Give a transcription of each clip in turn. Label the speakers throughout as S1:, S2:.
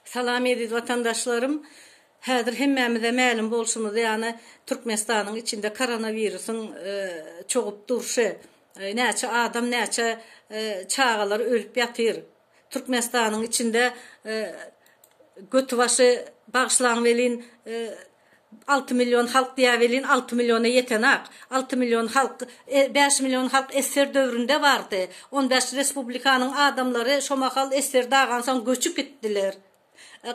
S1: Salam eziz watandaşlarym! Häzir hemmämize mälim bolşumyz ýaly Türkmenistanyň içinde koronawirusyň çogup durşy, näçe adam, näçe çagalar ölüp ýatyr. Türkmenistanyň içinde götibaşy bagyşlaň welin, Alty million halk diýä welin alty milliona ýetenak. Alty million halk, bäş million halk esser döwründe bardy. On bäş respublikanyň adamlary şo mahal esser dagansoň göçüp gitdiler.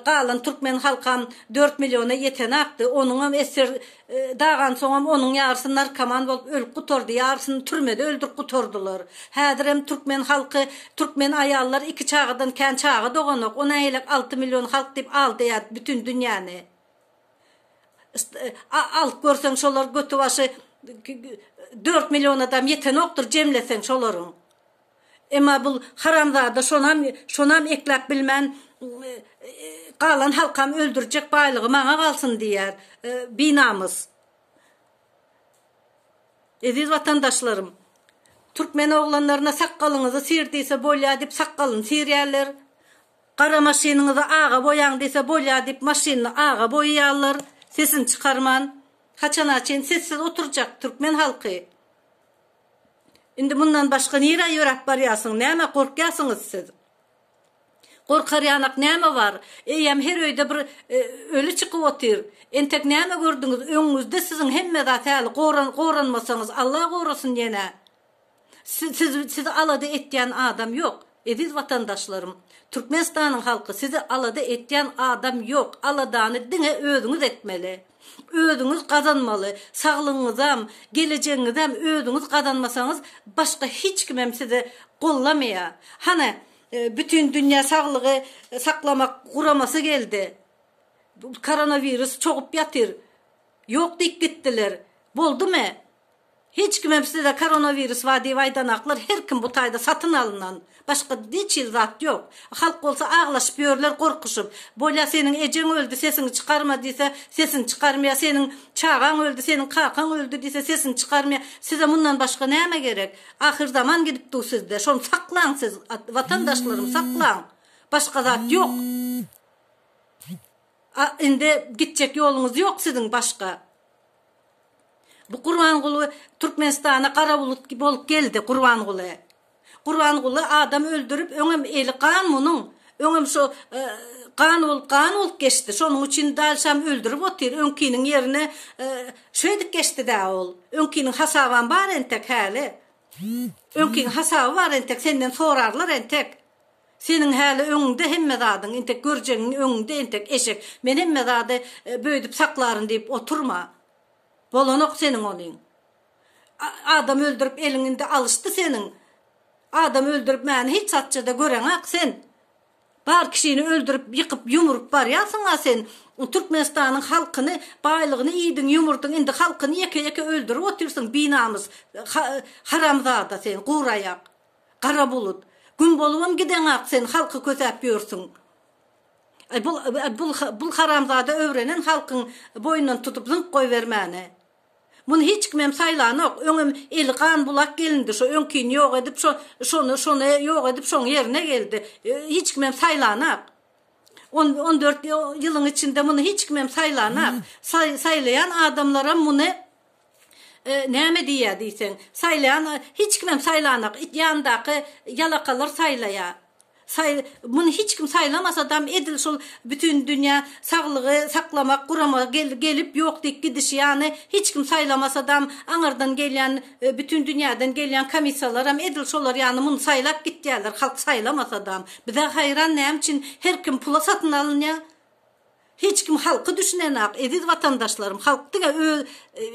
S1: Galan türkmen halkam dört milliona ýetenakdy. Onuňam esser dagansoňam onuň ýarysy narkoman bolup ölüp gutardy, ýarysyny türmede öldürip gutardylar. Häzirem türkmen halky, türkmen aýallar iki çagadan kän çaga doganok. O nähilek alty million halk diýip aldaýar bütin dünýäni. Alyp görseň şolar göti başy dört millionadam ýetenokdyr jemleseň şolaryň. Emma bul haramzada şonam şonam ekläp bilmän galan halkam öldürjek baýlygy maňa galsyn diýýär. Binamys. Eziz watandaşlarym. Türkmen oglanlaryna sakgalyňyzy syr diýse bolýar diýip sakgalyny syrýarler. Gara maşynyňyzy aga boýaň diýse bolýa diýip maşynyny aga boýaýarlar sesini çykarman. Haçana çyn sessiz oturjak türkmen halky. Indi mundan başga nirä ýöräp barýarsyň nämä gorkýarsyňyz siz. Gorkar ýanak näme bar. Eýýäm her öýde bir öli çykyp otyr. Entek näme gördüňiz öňüňizde siziň hemme zat häli goranmasaňyz Allah gorasyn ýene. Siz sizi alada etýän adam ýok eziz watandaşlarym Türkmenistanyň halky sizi alada etýän adam ýok aladany diňe özüňiz etmeli özüňiz gazanmaly saglygyňyzam gelejegiňizem özüňiz gazanmasaňyz başga hiç kimem sizi gollamaýa hany bütin dünýä saglygy saklamak guramasy geldi koronawirus çogup ýatyr ýok diýip gitdiler boldumy Hiç kimem size koronawirus bar diýip aýdanaklar her kim bu taýda satyn alynan başga hiç hili zat ýok halk bolsa aglaşyp ýörler gorkuşyp bolýa seniň ejeň öldi sesiňi çykarma diýse sesini çykarmaýa seniň çagaň öldi seniň kakaň öldi diýse sesini çykarmaýa size mundan başga näme gerek ahyrzaman gidip dur sizde şony saklaň siz watandaşlarym saklaň başga zat ýok a indi gitjek ýoluňyz ýok siziň başga. Bu Gurbanguly Türkmenistana gara bulut bolup geldi Gurbanguly. Gurbanguly adam öldürip öňem eli gan munuň. Öňem şu gan bolup gan bolup geçdi. Şonuň üçin dal şam öldürip otyr. Öňkiniň ýerine şeýdip geçdidä ol. Öňkiniň hasabam bar entek häli. Öňkiniň hasaby bar entek senden sorarlar entek. Seniň häli öňüňde hemme zadyň, entek görjegiň öňüňde entek, eşek. Men hemme zady böýdüp saklaryn diýip oturma. Bolanok seniň olyň. Adam öldürip eliň indi alyşdy seniň. Adam öldürip mäni hiç zatçada göreňak sen. Bar kişini öldürip ýykyp ýumrup barýarsyňa sen. Türkmenistanyň halkyny baýlygyny iýdiň ýumurdyň indi halkyny ýeke ýeke öldürip otyrsyň binamys haramzada sen guraýak. Gara bulut. Gün bolubam gideňak sen halky kösäp ýörsüň. Aý bul bul bul haramzada öwrenen halkyň boýundan tutup zyňyp goýbermäni. Muny hiç kimem saýlanok, öňem eli gan bulak gelindi şo öňkini ýok edip şo şony şony ýok edip şoň ýerine geldi. Hiç kimem saýlanak. On on dört ýylyň içinde muny hiç kimem saýlanak. Saý saýlaýan adamlaram muny Näme diýýä diýseň, saýlaýan hiç kimem saýlanak, it ýanyndaky ýalakalar saýlaýa. Saý muny hiç kim saýlamasadam edil şul Bütindünýä saglygy saklamak gurama gelip ýok diýip gidişi ýany hiç kim saýlamasadam aňyrdan gelýän Bütindünýäden gelýän komissiýalaram edil şolar ýany muny saýlap gitýäler halk saýlamasadam. Bizä haýran näme üçin her kim pula satyn alynýa. Hiç kim halky düşünenak eziz watandaşlarym halk diňe öz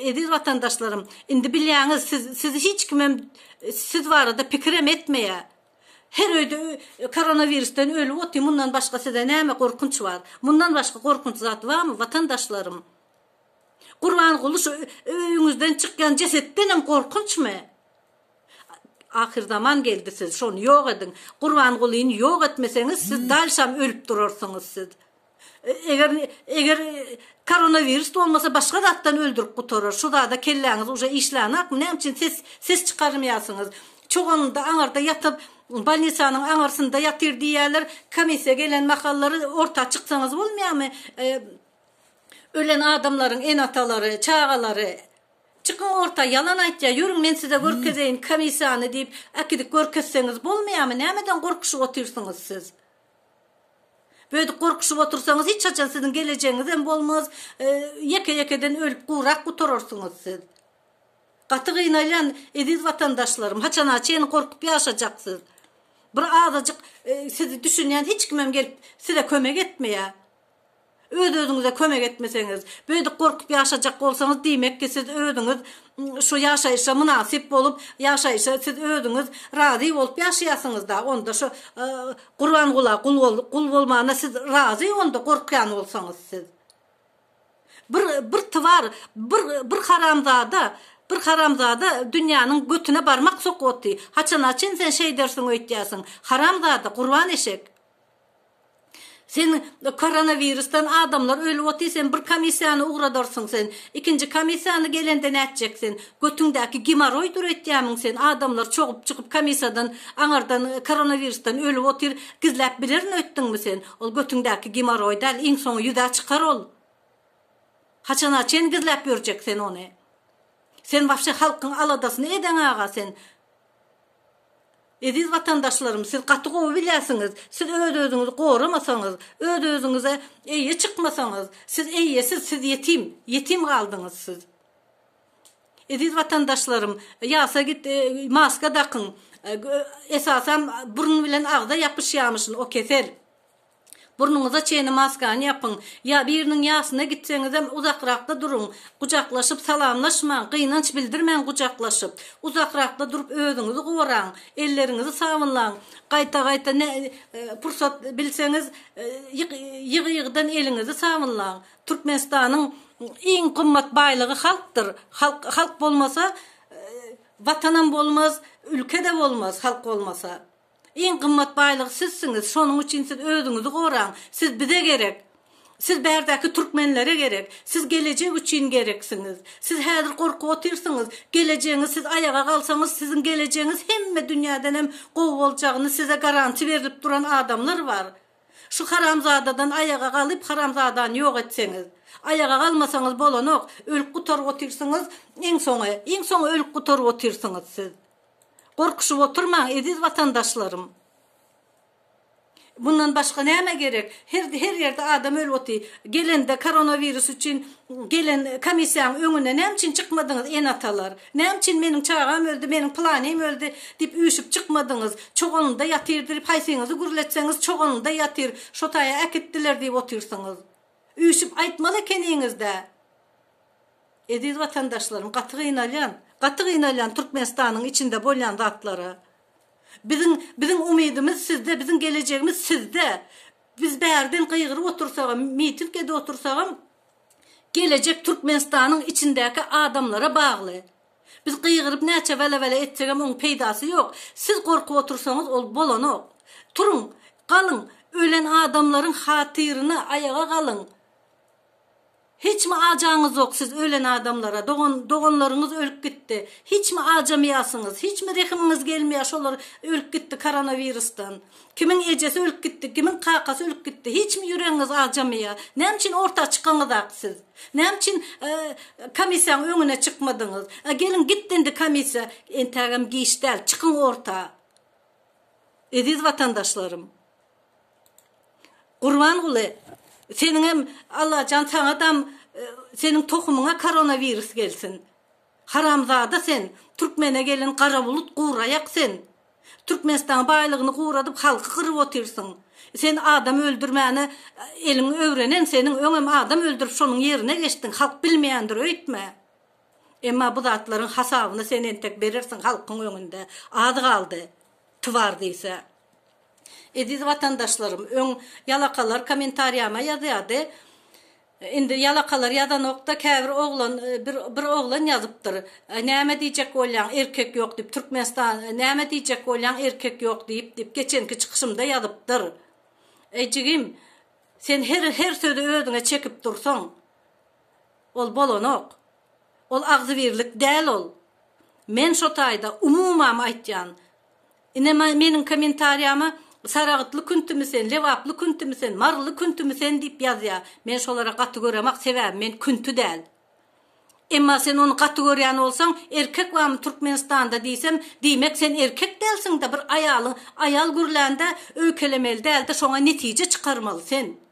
S1: eziz watandaşlarym indi bilýäňiz siz siz hiç kimem siz barada pikirem etmeýä her öýde koronawirsden ölüp otyr mundan başga size näme gorkunç bar mundan başga gorkunç zat barmy watandaşlarym Gurbanguly şu öýüňizden çykýan jesetdenem gorkunçmy ahyr zaman geldi siz şony ýok ediň Gurbangulyny ýok etmeseňiz siz dalşam ölüp durarsyňyz siz Eger eger koronawirus bolmasa başga zatdan öldürip gutarar. Şu zada kelläňiz uje işlänakmy? Näme üçin ses ses çykarmaýarsyňyz? Çoganynda aňarda ýatyp bolnisanyň aňarsynda ýatyr diýýärler. Komissiýa gelen mahallary orta çyksaňyz bolmaýarmy? E, ölen adamlaryň ene-atalary, çagalary Çykyň orta ýalan aýtýar. Ýörüň men size görkezeýin komissiýany diýip, äkidik görkezseňiz bolmaýarmy? Nämeden gorkuşyp otyrsyňyz siz? Böýdüp gorkuşyp otursaňyz hiç haçan siziň gelejegiňizem bolmaz, ýeke ýekeden ölüp gurak gutararsyňyz siz. Gaty gynalýan eziz watandaşlarym, haçana çenli gorkup ýaşajaksyz. Bir azajyk sizi düşünýän hiç kimem gelip size kömek etmeýär. Öz özüňize kömek etmeseňiz, beýdip gorkup ýaşajak bolsaňyz diýmek ki siz özüňiz şu ýaşaýyşa mynasyp bolup ýaşaýyşa siz özüňiz razy bolup ýaşaýasyňyzda onda şu gurbangula gul bolmana siz razy onda gorkýan bolsaňyz siz bir bir twar bir bir haramzada bir haramzada dünýäniň götüne barmak sokup otdy haçana çyn sen şeýdersiň öýtýäsiň haramzada gurban eşek Sen koronawirusdan adamlar ölüp otyr sen bir komissiýany ugradarsyň sen ikinji komissiýany gelende nätjek sen götüňdäki gimoroý döretýämiň sen adamlar çogup çykyp komissiýadan aňardan koronawirusdan ölüp otyr gizläp bilerin öýtdüňmi sen ol götüňdäki gimoroý däl iň soňy ýüzä çykar ol haçana çen gizläp ýörjek sen ony sen wapşe halkyň aladasyny edeň aga sen Eziz watandaşlarym siz gaty gowy bilýärsiňiz siz öz özüňizi goramasaňyz öz özüňize eýe çykmasaňyz siz eýesiz siz ýetim ýetim galdyňyz siz Eziz watandaşlarym ýasa git maska dakyň esasam burun bilen agza ýapyşýamyşyn o kesel. Burnuňyza çenli maskany ýapyň. Ýa biriniň ýasyna gitseňizem uzakrakda duruň. Gujaklaşyp salamlaşmaň, gynanç bildirmäň gujaklaşyp. Uzakrakda durup özüňizi goraň. Elleriňizi sabynlaň. Gaýta-gaýta nä pursat bilseňiz ýygy-ýygydan eliňizi sabynlaň. Türkmenistanyň iň gymmat baýlygy halkdyr. Halk halk bolmasa Watanam bolmaz, ülke-de bolmaz halk bolmasa. Iň gymmat baýlyk sizsiňiz, şonuň üçin siz özüňizi goraň, siz bize gerek, siz bärdäki türkmenlere gerek, siz gelejek üçin gereksiňiz, siz häzir gorkup otyrsyňyz, gelejegiňiz siz aýaga galsaňyz siziň gelejegiňiz hemme dünýädenem gowy boljagyny size garanti berlip duran adamlar bar, şu haramzadadan aýaga galyp haramzadany ýok etseňiz, aýaga galmasaňyz bolanok, ölüp gutaryp otyrsyňyz, iň soňy, iň soňy ölüp gutaryp otyrsyňyz siz. Gorkuşyp oturmaň, eziz watandaşlarym! Mundan başga näme gerek? Her her ýerde adam ölüp otyr. Gelende koronawirus üçin gelen komissiýaň öňüne näme üçin çykmadyňyz, ene-atalar? Näme üçin meniň çagam öldi, meniň pylanym öldi diýip üýşüp çykmadyňyz? Çogalynda ýatyr diýip haýsyňyzy gürletseňiz çogalynda ýatyr, şo taýa äkitdiler diýip otyrsyňyz. Üýşüp aýtmaly ekeniňiz-dä! Eziz watandaşlarym gaty gynalýan, gaty gynalýan Türkmenistanyň içinde bolýan zatlara. Biziň biziň umydymyz sizde, biziň gelejegimiz sizde. Biz bärden gygyryp otursagam, miting edip otursagam gelejek Türkmenistanyň içindäki adamlara bagly. Biz gygyryp näçe wele-wele etsegem oň peýdasy ýok. Siz gorkup otursaňyz ol bolanok. Turuň, galyň, ölen adamlaryň hatyryna aýaga galyň. Hiçmi ajaňyzok siz ölen adamlara dogan doganlaryňyz ölüp gitdi hiçmi ajamaýasyňyz hiçmi rehimiňiz gelmeýä şolar ölüp gitdi koronawirusdan kimiň ejesi ölüp gitdi kimiň kakasy ölüp gitdi hiçmi ýüregiňiz ajamaýa näme üçin orta çykaňyzak siz näme üçin komissiýaň öňüne çykmadyňyz a geliň gitdi indi komissiýa entägem giç däl çykyň orta eziz watandaşlarym. Gurbanguly seniňem Allajan saňadam seniň tohumyňa koronawirus gelsin. Haramzada sen, türkmene gelen gara bulut guraýak sen. Türkmenistanyň baýlygyny guradyp halky gyryp otyrsyň. Sen adam öldürmäne eliň öwrenen seniň öňem adam öldürip şonuň ýerine geçdiň halk bilmeýändir öýtme. Emma bu zatlaryň hasabyny sen entek berersiň halkyň öňünde az galdy twar diýse. Eziz watandaşlarym öň ýalakalar komentariýama ýazýardy indi ýalakalar ýazanokda käbir oglan bir bir oglan ýazypdyr näme diýjek bolýaň erkek ýok diýip Türkmenistan näme diýjek bolýaň erkek ýok diýip diýip geçenki çykyşymda ýazypdyr eý jigim sen her her sözi özüňe çekip dursaň ol bolanok ol agzybirlik däl ol men şo taýda umumam aýtýan Ine meniň kommentariýama Saragtly küntümi sen, Lebaply küntümi sen, Maryly küntümi sen diýip ýazýar. Men şolara gaty göremak sebäbi men künti däl. Emma sen ony gaty görýän bolsaň erkek barmy Türkmenistanda diýsem diýmek sen erkek dälsiňdä bir aýalyň aýal gürlände öýkelemeli dälde şoňa netije çykarmaly sen.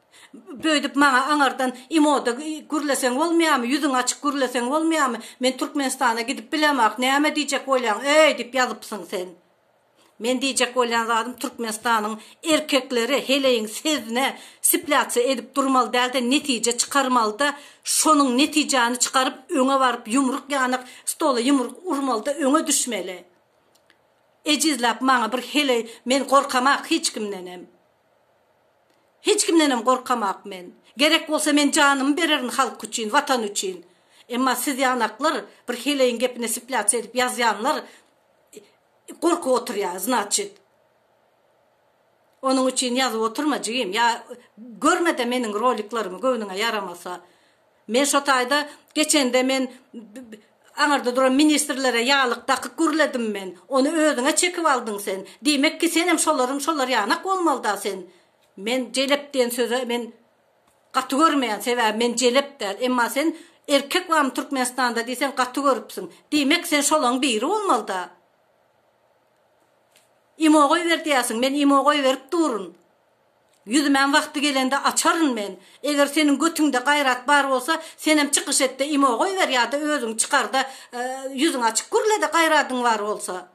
S1: Böýdüp maňa aňardan imoda gürleseň bolmaýamy, ýüzüň açyk gürleseň bolmaýamy, men Türkmenistana gidip bilemok, näme diýjek bolýaň öý diýip ýazypsyň sen. Men diýjek bolýan zadym Türkmenistanyň erkekleri heleýiň sezine siplýatsiýa edip durmaly dälde netije çykarmalyda şonuň netijäni çykaryp öňe baryp ýumruk ýanyk stola ýumruk urmalyda öňe düşmeli. Ejizläp maňa bir heleý men gorkamak hiç kimdenem. Hiç kimdenem gorkamak men. Gerek bolsa men janymy bererin halk üçin, watan üçin. Emma siz ýanaklar bir heleýiň gepine sipläce edip ýazýanlar gorkup oturýar znaçit. Onuň üçin ýazyp oturma jigim ýa görmede meniň roliklerimi göwnüňe ýaramasa. Men şo taýda geçende men aňyrda duran ministrlere ýaglyk dakyk gürledim men. Ony özüňe çekip aldyň sen. Diýmek ki senem şolaryň şolar ýanak bolmalyda sen. Men jelep diýen söze men gaty görmeýän sebäbi men jelep däl. Emma sen erkek barmy Türkmenistanda diý sen gaty görüpsiň. Diýmek sen şolaň biri bolmalyda. Imo goýber diýäsiň men imo goýberip durun. Ýüzmän wagty gelende açaryn men. Eger seniň götüňde gaýrat bar bolsa, senem çykyş etde imo goýber ýada özüň çykarda ýüzüň açyk gürlede gaýradyň bar bolsa.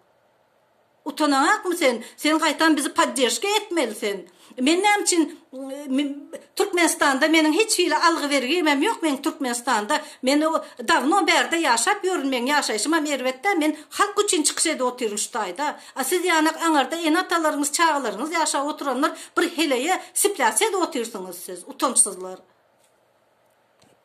S1: Utanaňakmy sen? Sen gaýtam bizi poddežka etmeli sen. Men näme üçin Türkmenistanda meniň hiç hili algy bergimem ýok meň Türkmenistanda. Men dawno bärde ýaşap ýörün meň ýaşaýşymam erbetdä men halk üçin çykyş edip otyryn şu taýda. A siz ýanak aňarda ene-atalaryňyz çagalaryňyz ýaşap oturanlar bir heleýe siplä siz otyrsyňyz siz utançsyzlar.